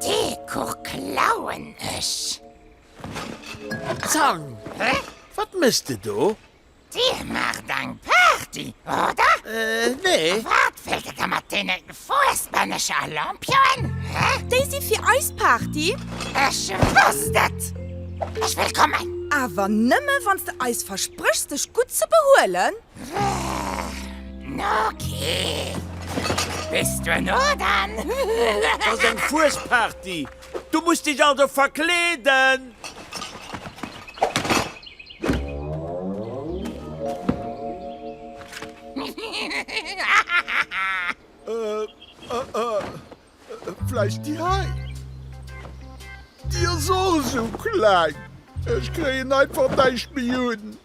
Dee Kuch klauen ech! Zang! Wat méchs de do? Dir maacht eng Party, oder? Nee. Wat wëllt Der da mat deene Wou ass d'Männecher Lampioen, hä? Déi si fir eis Party. Ech wosst et! Ech wëll kommen! Awer nëmme wann s de eis verspréchs dech gutt ze behuelen. No kee! Bis duerno dann! Et ass eng Fuesparty, du muss dech also verkleeden! Vläicht déi hei? Déi ass och esou kleng, ech kréien einfach näischt méi un.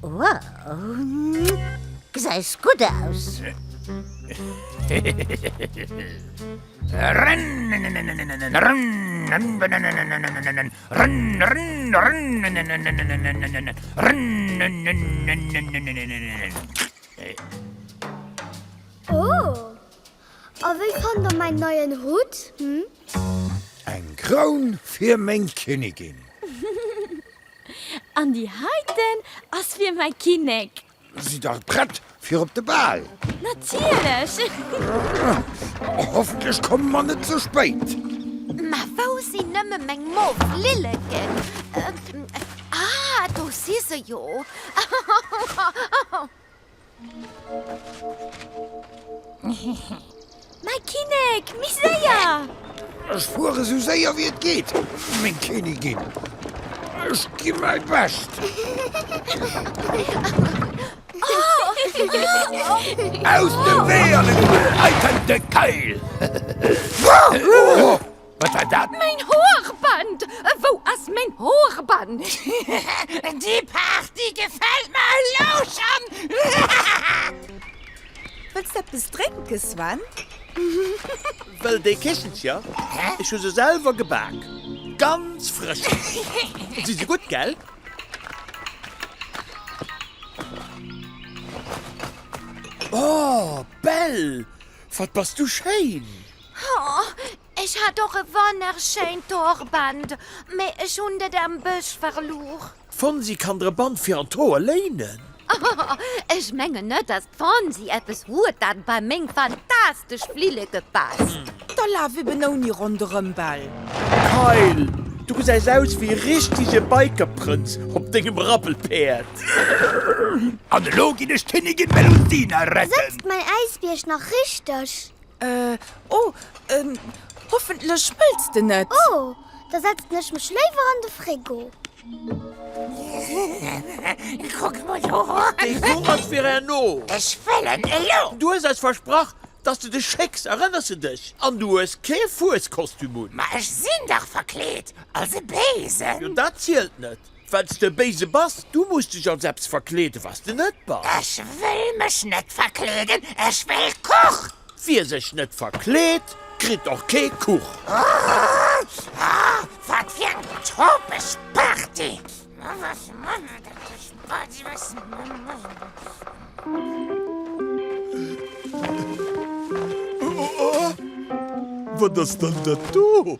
Wow, gesäis gutt aus! A wéi fannt der mäin neien Hutt? Eng Kroun fir meng Kinnigin. An déi heiten ass fir mäi Kinnek. Si dach prett fir op de Bal! Natierlech! Hoffentlech komme mer net ze spéit. Mä wou sinn nëmme meng mof Lilleken? Ah, do si se jo! Mäi Kinnek, méi séier! Ech fuere sou séier wéi et geet, meng Kinnigin. Ech gi mäi Bescht. Aus dem Wee, alleguer! Hei kënnt de Keil! Wat war dat? Main Haarband! Wou ass main Haarband? Déi Party gefällt mer elou schon! Wëlls de eppes drénke Sven? Wëll déi Kichelcher? Ech hu se selwer gebak, ganz frësch! Si se gutt, gell? Oh Belle, wat bass du schéin! Oh, ech hat och e wonnerschéint d'Hoorband, mee ech hunn det am Bësch verluer. D'Fonsi kann der e Band fir an d'Hoer léinen. Oh, ech mengen net, dass d'Fonsi eppes huet, dat bei meng fantastesch Flilleke passt. Da laf eben ouni ronderëm, Bell. Kyle, du gesäis aus wéi e richtege Bikerprënz op dengem Rappelpäerd. An elo ginn ech d'Kinnigin Melusina retten. Sëtzt mäi Äisbierg nach richteg? Oh, hoffentlech wëlls de net. Oh, da setzen ech mech léiwer an de Frigo. Kuck mol do erop. Dee Jour ass fir herno. Ech wëll en elo. Du hues eis versprach, dass de dech schécks, erënners de dech? An du hues kee Fueskostüm un. Ma ech sinn dach verkleet als e Besen. Jo, dat zielt net. Well s de e Béise bass, du muss dech als eppes verkleeden, wat s de net bass. Ech wëll mech net verkleeden, ech wëll Kuch! Wie sech net verkleet, kritt och kee Kuch! Ohh! Ahh! Wat fir eng topeg Party! Ohh! Wat ass dann dat do?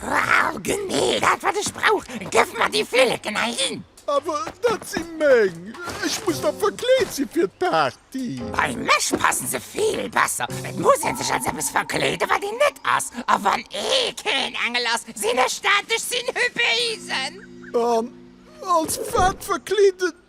Wow, genee dat wat ech brauch! Gëff mer déi Flilleken heihin! Awer dat si meng! Ech muss nach verkleet si fir d'Party! Bei mech passen se vill besser! Et muss ee sech als eppes verkleeden, wat een net ass! A wann ee keen Engel ass, sinn ech dat, ech sinn Hypéisen! An als wat verkleeden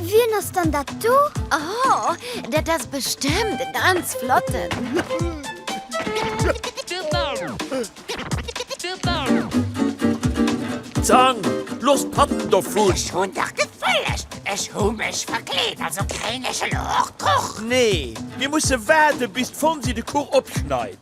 Wien ass dann dat do? Oh, dat ass bestëmmt e ganz flotten. Zang, looss d'Patten dovun! Ech hunn dach gefëllegt! Ech hu mech verkleet, also kréien ech elo och Kuch? Nee, mir musse waarden, bis d'Fonsi de Kuch opschneit.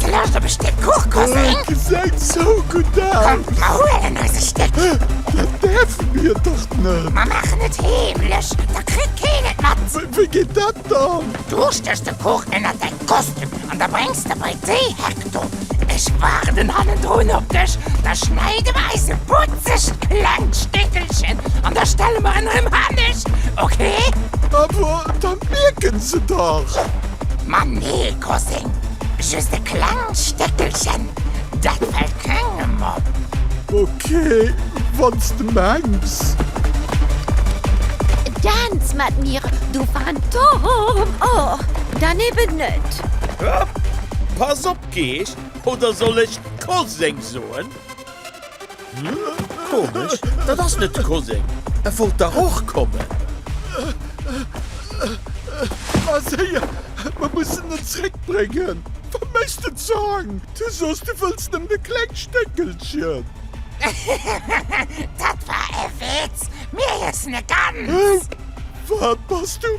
Du lauscht op e Stéck Kuch, Cousin? Et gesäit esou gutt aus! Kommt, mer huelen eis e Stéck! Dat däerfe mir dach net! Mer maachen et heemlech, da kritt keen et mat! Wéi geet dat dann? Du stéchs de Kuch ënnert däi Kostüm an da bréngs de bei d'Déihek do. Ech waarden hannendrun op dech. Da schneide mer eis e putzegt klengt Stéckelchen an da stelle mer en erëm hanescht, okay? Awer da mierke se dach! Ma nee! Crossing, just e klengt Stéckelchen, dat fällt kengem op. Ok, wanns de mengs. Dance mat mir, du Phantom! Oh, dann eben net. Pass op, Geescht, oder soll ech Koseng soen? Komesch, dat ass net de Koseng. E wollt dach och kommen. Ma séier, mer mussen en zréckbréngen. Verméiss den Zong, du sos du wëlls nëmmen e klengt Stéckelchen. Dat war e Witz, mir iessen e Ganzt. Wat bass du?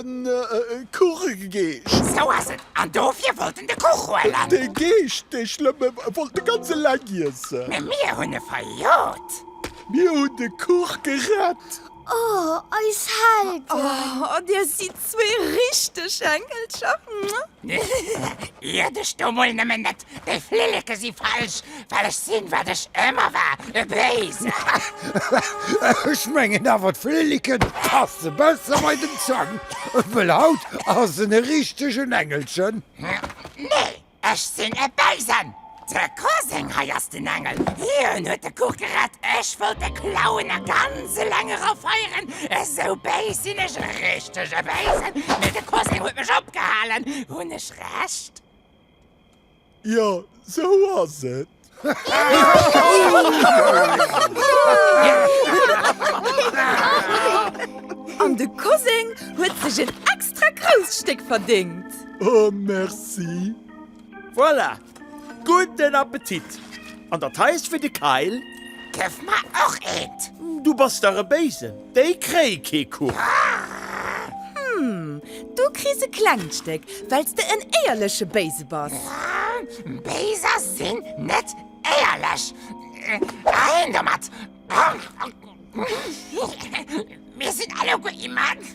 e Kuch gegeescht. Sou ass et, an dofir wollt en de Kuch huelen. Dee Geescht, dee Schlëmme, wollt de ganz eleng iessen. Mä mir hunn e verjot. Mir hunn de Kuch gerett. O, eis Helden! O, dir sidd zwee richteg Engelcher. Ier dech do mol nëmmen net Dei Flilleke si falsch, well ech sin wat ech emmer war, e Béisen. Ech mengen awer d'Flilleke passe besser bei den Zang, well haut ass en e richtegen Engelchen. Nee, ech sin e Béisen. De Koseng hei ass den Engel, hien huet de Kuch gerett, ech wollt e klauen a ganz eleng era feieren. Esou béis sin ech, e richtege Béisen. Mee de Koseng huet mech opgehalen, hun ech Recht? Jo sou ass et. An de Koseng huet sech en extra grousst Stéck verdéngt. Oh merci. Voilà, gudden Appetit. An dat hei ass fir de Kayl. Gëff mer och eent. Du bass dach e Béisen. Déi kréie kee Kuch. Hm, du kriss e klengt Stéck, well s de en éierleche Béise bass. Béiser sinn net éierlech. Heiin domat! Mir sinn alleguer immens.